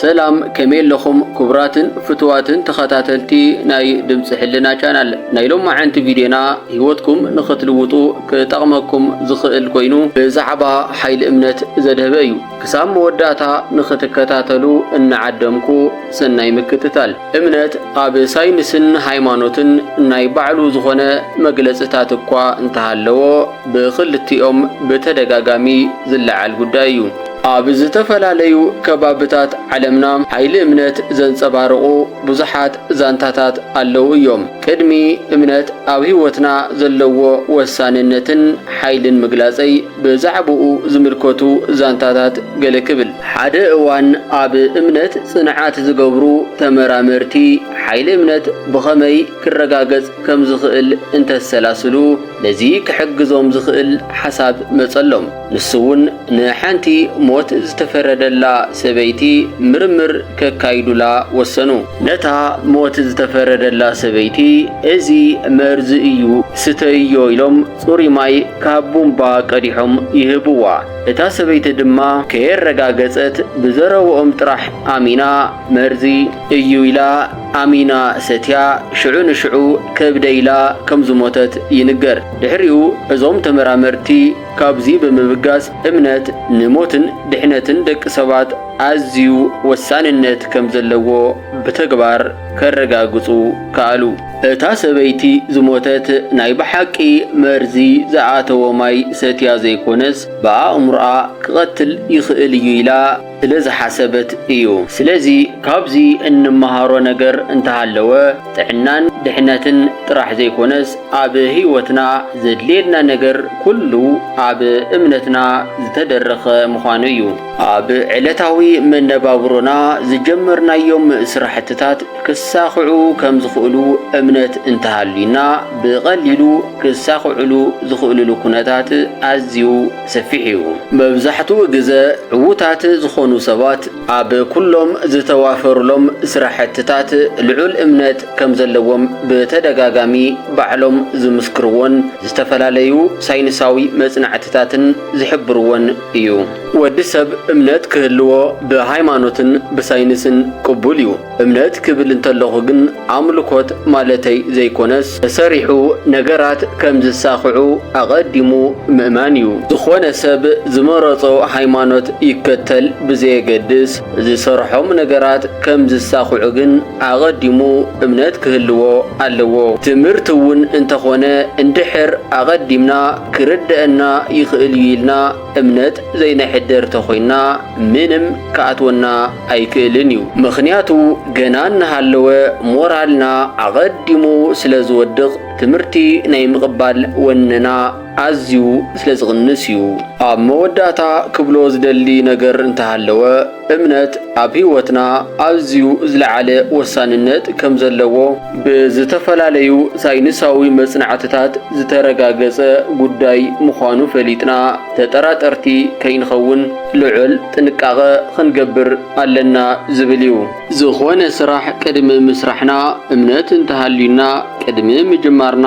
ሰላም ከመይ ኣለኹም ክቡራትን ፍትዋትን ተኸታተልቲ ናይ ድምፂ ሕልና ቻናል ናይ ሎማዓንቲ ቪድዮና ህይወትኩም ንኽትልውጡ ክጠቕመኩም ዝኽእል ኮይኑ ብዛዕባ ሓይሊ እምነት ዘድህበ እዩ ክሳብ መወዳእታ ንኽትከታተሉ እናዓደምኩ ሰናይ ምክትታል እምነት ኣብ ሳይንስን ሃይማኖትን ናይ ባዕሉ ዝኾነ መግለፅታት እኳ እንተሃለዎ ብኽልቲኦም ብተደጋጋሚ ዝለዓል ጉዳይ እዩ። ኣብ ዝተፈላለዩ ከባብታት ዓለምና ሓይሊ እምነት ዘንፀባርቑ ብዙሓት ዛንታታት ኣለዉ እዮም። ቅድሚ እምነት ኣብ ህይወትና ዘለዎ ወሳንነትን ሓይልን ምግላፀይ ብዛዕባኡ ዝምልከቱ ዛንታታት ገለ ክብል። ሓደ እዋን ኣብ እምነት ጽንዓት ዝገብሩ ተመራመርቲ፣ ሓይሊ እምነት ብኸመይ ክረጋገጽ ከም ዝኽእል እንተሰላስሉ፣ ነዚ ክሕግዞም ዝኽእል ሓሳብ መጸሎም። ንሱ'ውን ንሓንቲ ሞት ዝተፈረደላ ሰበይቲ ምርምር ከካይዱላ ወሰኑ። ነታ ሞት ዝተፈረደላ ሰበይቲ፣ እዚ መርዚ እዩ፣ ስተይዮ ኢሎም፣ ጽሩይ ማይ ካብ ቡምባ ቀዲሖም ይህብዋ፣ እታ ሰበይቲ ድማ ከየረጋገጸት ብዘረብኦም ጥራሕ ኣሚና መርዚ እዩ ኢላ ኣሚና ሰትያ ሽዑ ንሽዑ ከብደ ኢላ ከም ዝሞተት ይንገር። ድሕሪኡ እዞም ተመራመርቲ ካብዚ ብምብጋስ እምነት ንሞትን ድሕነትን ደቂ ሰባት ኣዝዩ ወሳንነት ከም ዘለዎ ብተግባር ከረጋግጹ ከኣሉ። እታ ሰበይቲ ዝሞተት ናይ ብሓቂ መርዚ ዝኣተዎ ማይ ሰትያ ዘይኮነስ ብኣእምሮኣ ክቐትል ይኽእል እዩ ኢላ ስለ ዝሓሰበት እዩ። ስለዚ ካብዚ እንመሃሮ ነገር እንተሃለወ ጥዕናን ድሕነትን ጥራሕ ዘይኮነስ ኣብ ህይወትና ዘድልየና ነገር ኩሉ ኣብ እምነትና ዝተደረኸ ምዃኑ እዩ። ኣብ ዕለታዊ መነባብሮና ዝጀመርናዮም ስራሕትታት ክሳኽዑ ከም ዝኽእሉ እምነት እንተሃልዩና፣ ብቐሊሉ ክሳኽዕሉ ዝኽእልሉ ኩነታት ኣዝዩ ሰፊሕ እዩ። መብዛሕትኡ ግዘ ዕዉታት ዝኾኑ ሰባት ኣብ ኩሎም ዝተዋፈሩሎም ስራሕትታት ልዑል እምነት ከም ዘለዎም ብተደጋጋሚ ባዕሎም ዝምስክርዎን ዝተፈላለዩ ሳይንሳዊ መፅናዕትታትን ዝሕብርዎን እዩ። ወዲ ሰብ እምነት ክህልዎ ብሃይማኖትን ብሳይንስን ቅቡል እዩ። እምነት ክብል እንተለኹ ግን ኣምልኮት ማለተይ ዘይኮነስ ተሰሪሑ ነገራት ከም ዝሳኽዑ ኣቐዲሙ ምእማን እዩ። ዝኾነ ሰብ ዝመረጾ ሃይማኖት ይከተል ብዘየገድስ ዝሰርሖም ነገራት ከም ዝሳኽዑ ግን ኣቐዲሙ እምነት ክህልዎ ኣለዎ። ትምህርቲ እውን እንተኾነ እንድሕር ኣቐዲምና ክርደእና ይኽእል እዩ ኢልና እምነት ዘይነሕድር ተኾይንና ምንም ክኣትወና ኣይክእልን እዩ። ምኽንያቱ ገና እናሃለወ ሞራልና ኣቐዲሙ ስለዝወድቕ ትምህርቲ ናይ ምቕባል ወነና ኣዝዩ ስለ ዝቕንስ እዩ። ኣብ መወዳእታ ክብሎ ዝደሊ ነገር እንተሃለወ፣ እምነት ኣብ ህይወትና ኣዝዩ ዝለዓለ ወሳንነት ከም ዘለዎ ብዝተፈላለዩ ሳይንሳዊ መጽናዕትታት ዝተረጋገጸ ጉዳይ ምዃኑ ፈሊጥና ተጠራጠርቲ ከይንኸውን ልዑል ጥንቃቐ ኽንገብር ኣለና ዝብል እዩ። ዝኾነ ስራሕ ቅድሚ ምስራሕና እምነት እንተሃልዩና ቅድሚ ምጅማርና፣